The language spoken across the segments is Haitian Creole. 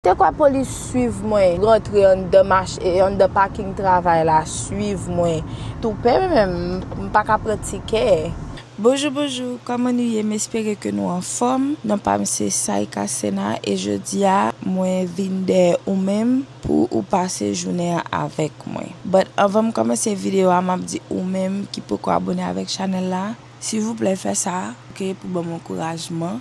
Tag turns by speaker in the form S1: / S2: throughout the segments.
S1: Se kwa polis swiv mwen rantre anndan mach e anndan paking travay la swiv mwen tou pè menm m paka pran tikè. Bonjou bonjou kòman nou ye m espere ke nou anfòm non pam se Saïka Sena e jodia mwen vin dèyè ou menm pou ou pase jounen an avèk mwen but anvan m kòmanse video a map di ou menm ki poko abone avèk chanèl la silvouplè fè sa ok pou banm ankourajman.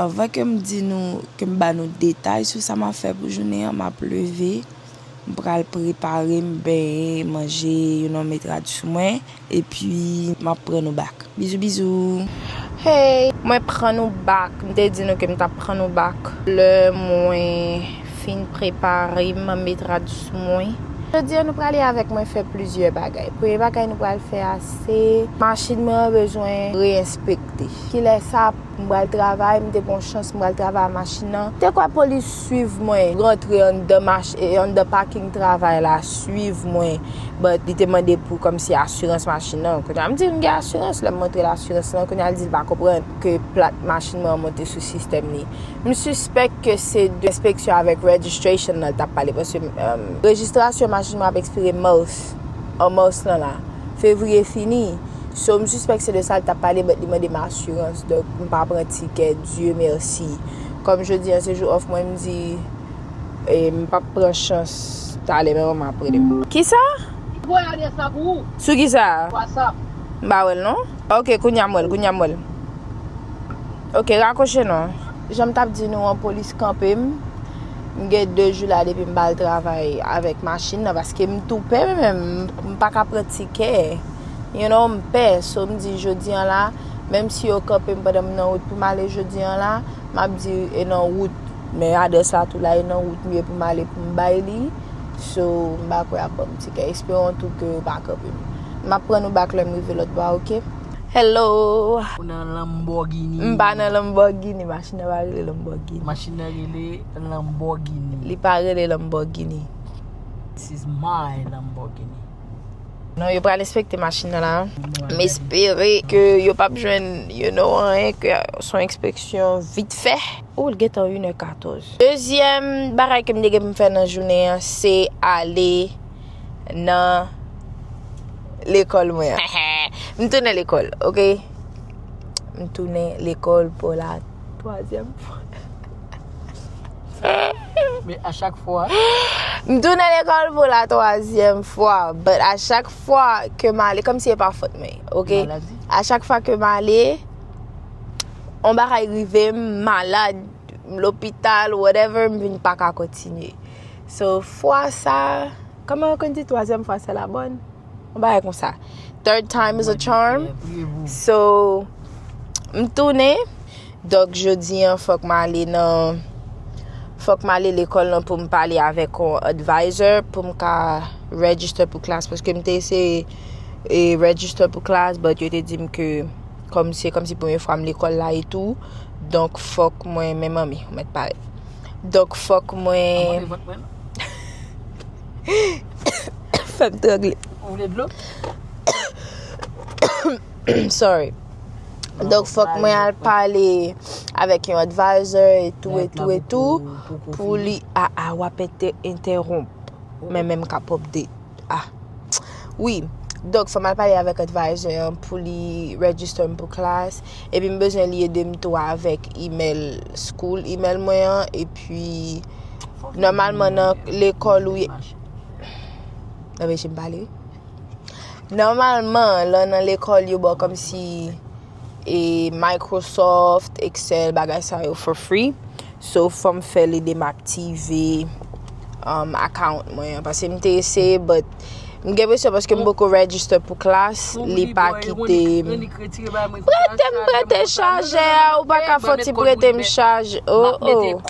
S1: Anvan ke m di nou, ke m ba nou detay sou sa m ap fè pou jounen an, m ap leve, m pral prepare m, benyen, manje, yon nonm met rad sou mwen, epi m ap pran nou bak. Bizou bizou! Hey! Mwen pran nou bak! M te di nou ke m t ap pran nou bak lè mwen fin prepare m, met rad sou mwen. Jodi an nou prale avèk mwen fè plizyè bagay. Premye bagay nou pral fè a se machin mwen an bezwen re-enspekte. Kilè sa ap M pral travay, m te gon chans m pral travay a machin nan. Te kwè polis swiv mwen rantre anndan mach e anndan paking travay la swiv mwen but li te mande pou kòmsi asirans machin nan. Kounye a m di l m gen asirans lè m montre l asirans lan kounye a l di l pa konprann ke plat machin mwen an monte sou sistèm li. M sispèk ke se de enspeksyon avèk registration lan l t ap pale paske rejistrasyon machin mwen ap ekspire Mars. an mars lan la fevrier fini so m sispèk se de sa li tap pale but li mande m assurance donk m pa pran tikè Dieu merci kòm jodi an se jou off mwen m di e m pap pran chans talè men manman ap rele m. Kisa? Li t voye adresse la pou ou. Sou kisa? Whatsapp. M
S2: pa wèl non.
S1: Ok kounya m wèl kounya m wèl. Ok rakoche non. Jan m tap di nou an polis kanpe m, m gen 2 jou la depi m pa al travay avèk machin nan paske m tou pè mwen menm m paka pran tikè you know m pè so m di jodi an la menm si yo kanpe m pandan m nan wout pou m ale jodi an la m ap di e nan wout men adrès la tou la e nan wout m ye pou m ale pou m bay li so m pa kwè y ap ban m tikè esperon tou ke yo pa kanpe m m ap pran nou bak lè m rive lòtbò a ok. Hello. Ou nan
S2: Lamborghini. M pa nan Lamborghini.
S1: Machin nan pa rele Lamborghini. Machin nan rele
S2: Lamborghini. Li pa rele
S1: Lamborghini. This
S2: is my Lamborghini. Non,
S1: yo pral enspekte machin nan la. M espere ke yo pap jwenn you know anyen ke son enspeksyon vit fè. Ou l gentan 1 è 14. Dezyèm bagay ke m te gen pou m fè nan jounen an se ale. nan lekòl mwen an. M tounen lekòl, ok. M tounen lekòl pou la twazyèm fwa.
S2: Men a chak fwa. M tounen
S1: lekòl pou la twazyèm fwa. But a chak fwa ke m ale, kòm si e pa fòt mwen, ok. Maladi. A chak fwa
S2: ke m
S1: ale, on bagay rive m, malad, lopital, whatever, m vin pa ka kontinye. So fwa sa, kòman yo konn di twazyèm fwa se la bòn? Yon bagay konsa. Third time is a charm. So, m tounen. Dok jodi an fòk m ale nan fòk m ale lekòl nan pou m pale avèk yon advisor pou m ka register pou klas paske m te eseye e register pou klas but yo te di m ke kòm se kòm si premye fwa m lekòl la etou donk fòk mwen men manmi ou mèt pale. Donk fòk mwen Fè m trangle Ou vle dlo? Sorry Donk fòk mwen al pale avèk yon advisor etou etou etou pou li a a wap entèwonp mwen menm kap update. Ah Wi, donk fòm al pale avèk advisor an pou li register m pou klas, epi m bezwen li ede m tou avèk email school email mwen an epi nòmalman nan lekòl ou ye Anpeche m pale wi Nòmalman lè w nan lekòl yo ba w kòmsi e Microsoft, Excel, bagay sa yo for free. So fòm fè li de m aktive um, account mwen an. Pase m te eseye but m gen presyon paske m boko register pou klas, li pa kite m. Prete m prete chaje a, ou pa ka fò ti prete m chaje. Oh oh.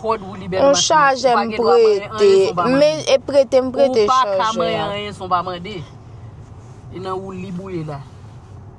S1: On chaje m prete, me e prete m prete chaje a. Ou pa ka mwen anyen son
S2: pa mande. E nan ou li bouye la.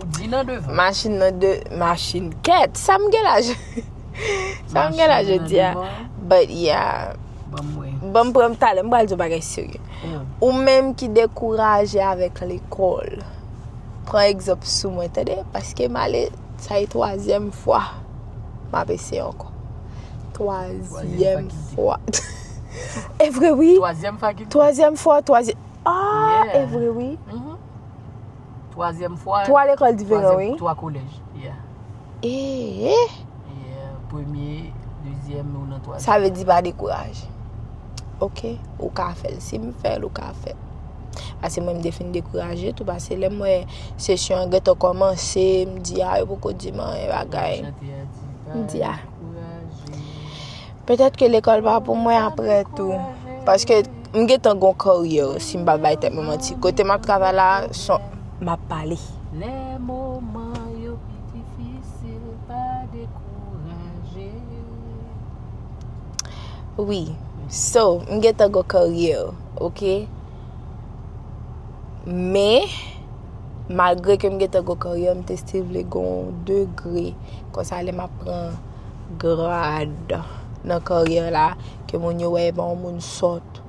S1: Ou di nan devan. Machin nan de, machin kèt. Sa m gen la je, sa m gen la je di a. Machin nan devan. But yeah. Ban m wè. Ban m pran m talè, m pral di yon bagay serye. Oh. Ou menm ki dekouraje avèk lekòl, pran egzanp sou mwen tande, paske m ale, sa e twazyèm fwa m ap eseye ankò. Twazyèm fwa. E vre wi. Twazyèm fakilte. Twazyèm fwa, twazyèm, ah! Yeah. E vre wi. Mh mh.
S2: Twazyèm fwa. Twa lekòl diferan wi.
S1: Twa kolèj,
S2: yeah. Eee! Yeah, premye, dezyèm, nou nan twazyèm. Sa vle di pa dekouraje.
S1: Ok, ou ka fè l. Si m fè l, ou ka fè l. Pase mwen m te fin dekouraje tou, pase lè m wè sesyon an gentan kòmanse, m di a, yo poko di m anyen bagay. M di a. Petèt ke lekòl pa pou mwen aprè tou. Paske m gen tan gon karyè si m pa bay tèt mwen manti. Kote m ap travay la, son m ap pale. Wi, so m gen tan gon karyè, ok. Men, malgre ke m gen tan gon karyè, m te still vle gon degre. Konsa lè m ap pran. grad nan karyè la, ke moun yo wè epa yon moun sòt,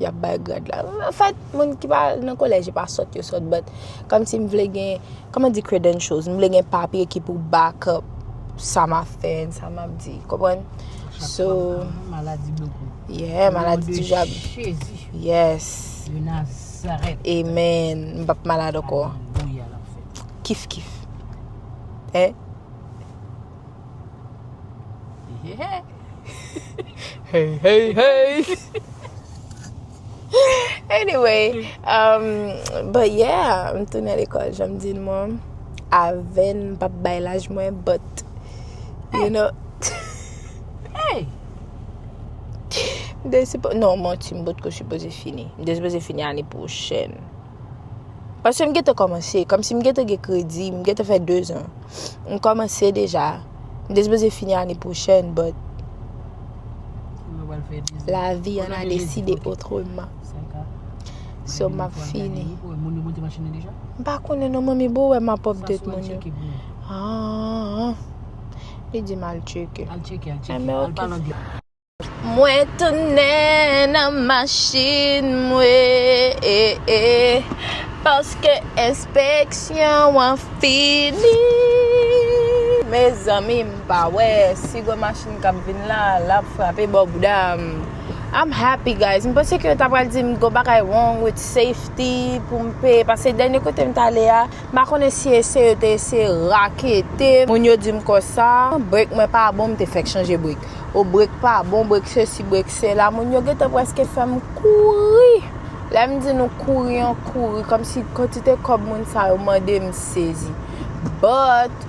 S1: yap bay grad la. An fèt, moun ki pa nan kolèj yo pa sòt, yo sòt, but kòm si m vle gen, kòman m di credentials, m vle gen papye ki pou back up sa m ap fè, sa m ap di, konprann? So,
S2: yeah, maladi
S1: toujou ap, yes, amen, m pap malad ankò, kif kif, eh. Hey hey hey Anyway um, But yeah M tounen lekòl janm di n mwen Avèn m pap bay laj mwen But You know Hey Non manti m potko sipoze fini M te sipoze fini ane pwochèn Paske m gentan kòmanse, kòmsi m gentan gen kredi, m gentan fè 2 zan. M kòmanse deja. M te sipoze fini ane pwochèn, but lavi an a deside otreman. So m ap fini. M pa konnen non manmi, bo wè m ap update moun yo. Haa, li di m al tcheke. Enben ok. Mwen tounen nan machin mwen paske enspeksyon an fini Mezanmi m pa wè si gwo machin kap vin la lap frape bò bouda m I'm happy guys m panse ke yo ta pral di m gwo bagay wrong with safety pou m peye paske dènye kote m t ale a M pa konnen si eseye yo te eseye rakete moun yo di m konsa brek mwen pa bon m te fèk chanje brek o brek pa bon brek sesi brek sela moun yo gentan prèske fè m kouri lè m di nou kouri an kouri kòmsi kantite kòb moun sa yo mande m sezi but.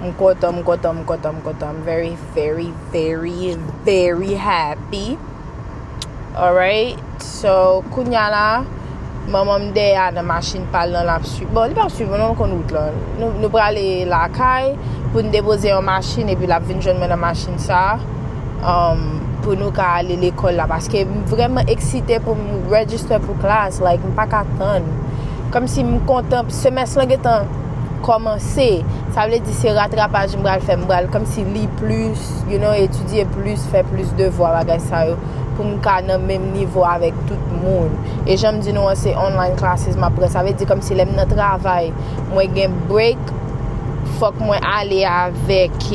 S1: M kontan, m kontan, m kontan, m kontan. I'm very, very, very, very happy. Alright, so kounya la, manman m dèyè a nan machin pal nan lap suiv. Bon, li pap suiv mwen non, l konn wout la. Nou prale lakay pou n depoze yon machin epi lap vin jwenn mwen nan machin sa um, pou nou ka ale lekòl la paske m vrèman eksite pou m register pou klas, like m paka tann. Kòmsi m kontan. Semès lan gentan kòmanse,
S3: sa vle di se ratrapaj m pral fè, m pral kòmsi li plis, you know, etidye plis, fè plis devwa bagay sa yo pou m ka nan menm nivo avèk tout moun. E jan m di nou an se online classes m ap pran, sa vle di kòmsi lè m nan travay mwen gen break fòk mwen ale avèk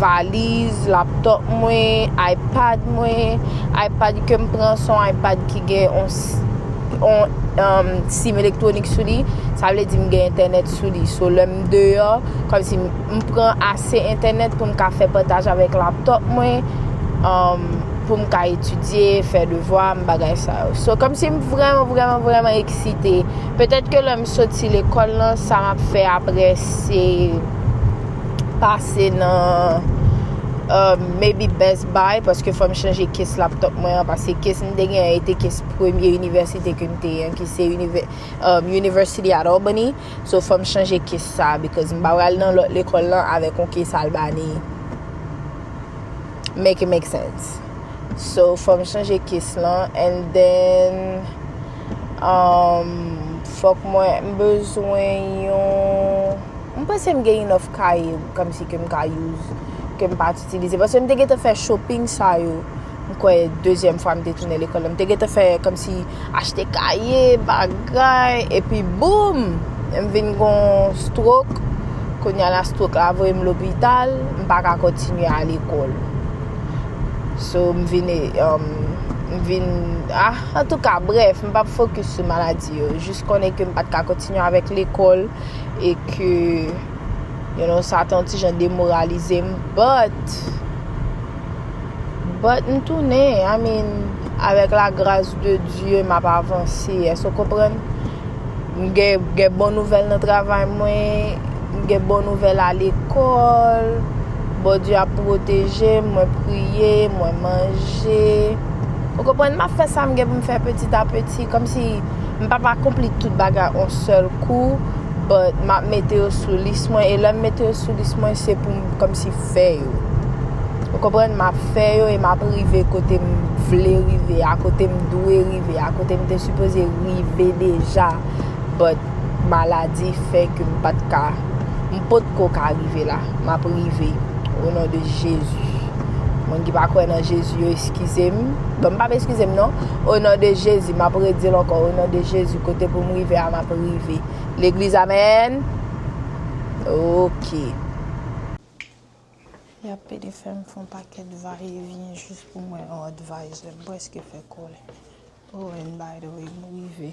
S3: valiz, laptop mwen, ipad mwen, ipad ke m pran se yon ipad ki gen yon. on sim elektwonik sou li, sa vle di m gen entènèt sou li. So lè m deyò, kòm si m pran ase entènèt pou m ka fè pataj avèk laptop mwen, um, pou m ka etidye, fè devwa m, bagay sa yo. So kòm si m vrèman, vrèman, vrèman eksite. Petèt ke lè m soti lekòl lan, sa m ap fè apre se pase nan, um, maybe Best Bay paske fòm chanje kes laptop mwen an pase kes m te gen an e te kes premye inivèsite ke m te an ki se university at Albany so fòm chanje kes sa because m pa pral nan lòt lekòl lan avèk yon kes albany make it make sense so fòm chanje kes lan and then fòk mwen m bezwen yon m panse m gen enough kaye kòmsi ke m ka use ke m pa. Stilize paske m te gentan fè shopping sa yo m kwè dezyèm fwa m te tounen lekòl la m te gentan fè kòmsi achte kaye bagay epi boom m vin gon strok kounya la strok la voye m lopital m pa ka kontinye al lekòl so m vin um, m vin ah antouka brèf m pap fokis sou maladi yo jis konnen ke m pat ka kontinye avèk lekòl e ke You know sa ton ti jan demoralize m but but m tounen I mean avèk la gras de Dieu m ap avanse èske w konprann m gen gen bon nouvèl nan travay mwen m gen bon nouvèl a lekòl Bondye ap pwoteje m mwen priye mwen manje ou konprann m ap fè sa m gen pou m fè peti a peti kòmsi m pap akonpli tout bagay on sèl kou but map mete yo sou lis mwen e lèm mete yo sou lis mwen se poum kòmsi fè yo ou konprann map fè yo e map rive kote m vle rive a kote m dwe rive a kote m te sipoze rive deja but maladi fè ke m pat ka m potko ka rive la map rive o non de jezi moun ki pa kwè nan jezi yo eskizem bon m pap eskizem non. O non de Jezi map redil ankò o non de Jezi kote pou m rive a map rive legliz amen ok. Yap pede fèm fon pakèt va e vyen jis pou mwen yon advisor m preske fè kòlè oh and by the way m rive.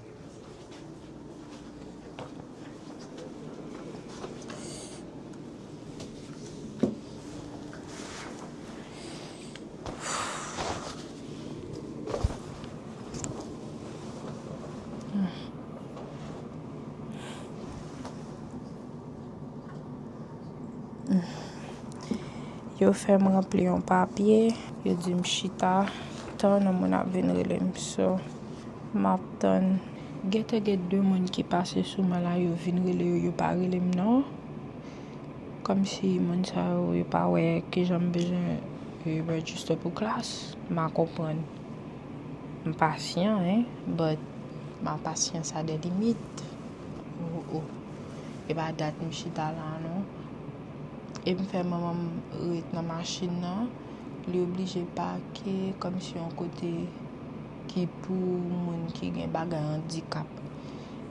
S3: Yo fè m ranpli yon papye, yo di m chita, tann yon moun ap vin rele m. So. Map tann. Gentan gen 2 moun ki pase sou mwen la yo vin rele yo yo pa rele m non kòm si moun sa yo yo pa wè kijan m bezwen register pou klas ma konprann m pasyan hein but ma pasyans a des limites oh oh e pa dat m chita la non e m fè manman m ret nan machin nan li oblije pake kòm si yon kote. ki pou moun ki gen bagay andikap.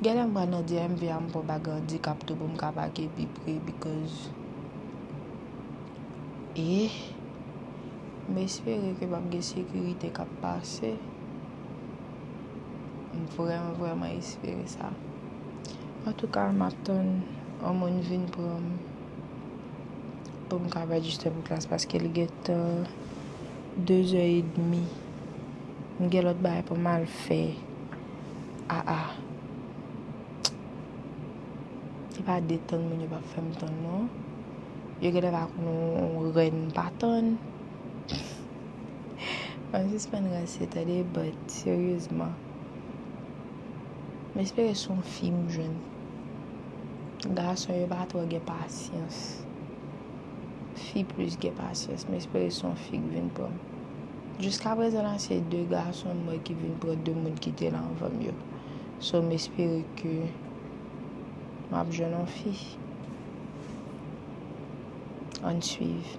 S3: Genlè mwen nan DMV a m pran bagay andikap tou pou m ka pake pi pre because eh m espere ke pap gen sekirite kap pase. M vrèman vrèman espere sa. Antouka m ap tann yon moun vin pran m pou m ka rejiste pou klas paske li gentan 2 zè edmi. M gen lòt bagay pou m al fè aa Se pa detann moun yo pa fè m tann non Yo genlè pa konn yon rèn m pa tann An n sispann ranse tande But seryezman M espere s on fi m jwenn Gason yo pa twò gen pasyans Fi plis gen pasyans M espere s on fi k vin pran m Jiska prezan la se 2 gason mwen ki vin pran 2 moun ki te la anvanm yo. So m espere ke map jwenn yon fi. Ann swiv.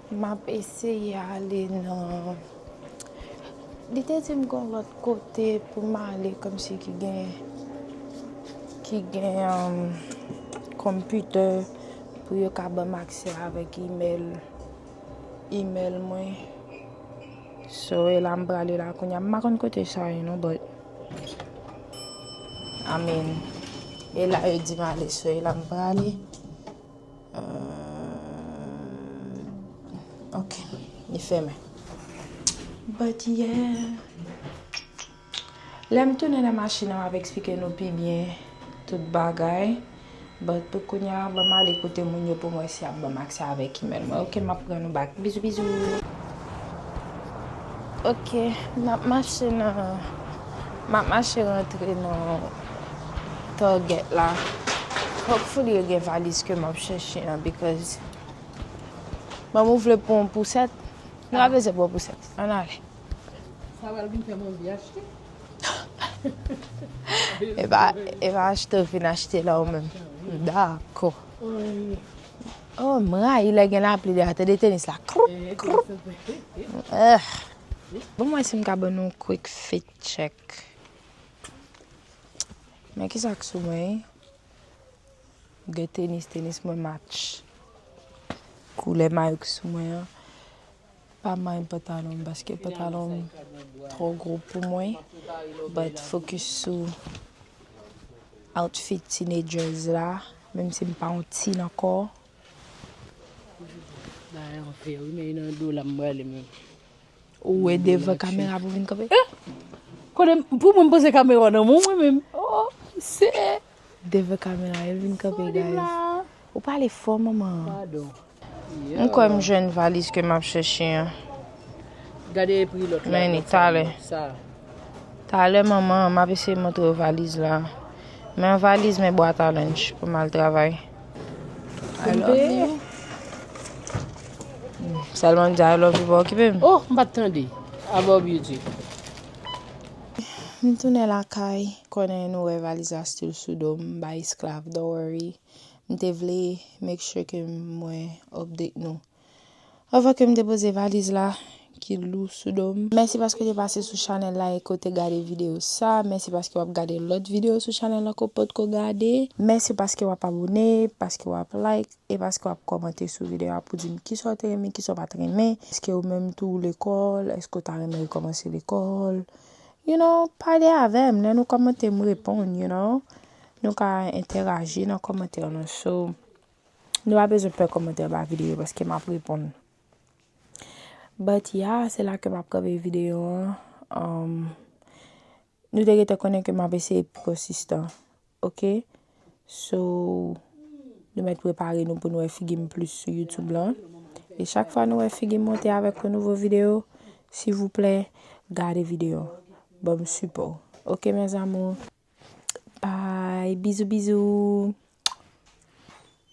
S3: Map eseye ale nan Li te dim gon lòt kote poum ale kòmsi ki gen ki gen computer pou yo ka banm aksè avèk email email mwen so e la m prale la kounya m pa konn kote sa ye non but I mean e la yo dim ale so e la m prale. Ok, li fèmen. But yeah. Lè m tounen nan machin an, m ap eksplike nou pi byen tout bagay. But pou kounya, ban m ale kote moun yo pou m wè si y ap ban m aksè avèk imèl mwen. Ok, m ap pran nou back. Bizou bizou. Ok, n ap mache nan Map mache rantre nan target la hopefully yo gen valiz ke map chèche an because Mom ou vle pran yon pousèt Nou pa bezwen pran pousèt Ann ale Sa pral
S2: vin fè Monvi
S3: achte E pa achte ou fin achte la ou menm Dako Oh m rayi lè gen lapli deyò a tande tenis la kroup kroup Ahh Bon m wè si m ka ban nou yon quick fit check. Men kisa k sou mwen. M gen tenis, tenis mwen match koulè mayo ki sou mwen an. Pa mind pantalon m paske pantalon m twò gwo pou mwen. But focus sou outfit teenagers la. Menm si m pa yon teen ankò. Ou we devan kamera
S2: pou vin kanpe. Eh! Kone
S3: pou mwen
S2: pose
S3: kamera
S2: nan mwen
S3: mwen
S2: menm. Oh, se.
S3: Devan kamera el vin kanpe guys. Ou pale fò maman. Pardon.
S2: M kwè
S3: m jwenn valiz ke m ap chèche an.
S2: Gade e pri lòt la. Men ni talè.
S3: Sa.
S2: Talè
S3: maman, m ap eseye montre valiz la. Men valiz men bwa talanj pou m al travay. I love you. Selman di I love you pa okipe m. Oh, m pa t tande.
S2: I love you di.
S3: M tounen lakay, konnen nou wè valiz la still sou do m, m bay esklav, don't worry. M te vle make sure ke mwen update nou. Avan kem depoze valiz la ki lou sou dom. Mèsi paske w te pase sou chanèl la e ke w te gade videyo sa. Mèsi paske wap gade lòt videyo sou chanèl la ke w potko gade. Mèsi paske wap abone, paske wap like e paske wap kòmante sou videyo a pou dim kisa w te renmen, kisa w pat renmen. Eske ou menm tou ou lekòl, eske w ta renmen rekòmanse lekòl. You know, pale avèm, lè nou kòmante m reponn you know. Nou ka entèraji nan kòmantè nou so. Nou pa bezwen pè kòmantè anba videyo yo paske map reponn. But ya, se la ke map kanpe videyo an. Nou te gentan konnen ke map eseye pi konsistan. Ok? So, nou mèt prepare nou pou nou wè figi m plis sou YouTube lan. E chak fwa nou wè figi m monte avèk yon nouvo videyo, sivouplè, gade videyo an. Banm sipò. Ok mes amours? Bye! Bizou bizou!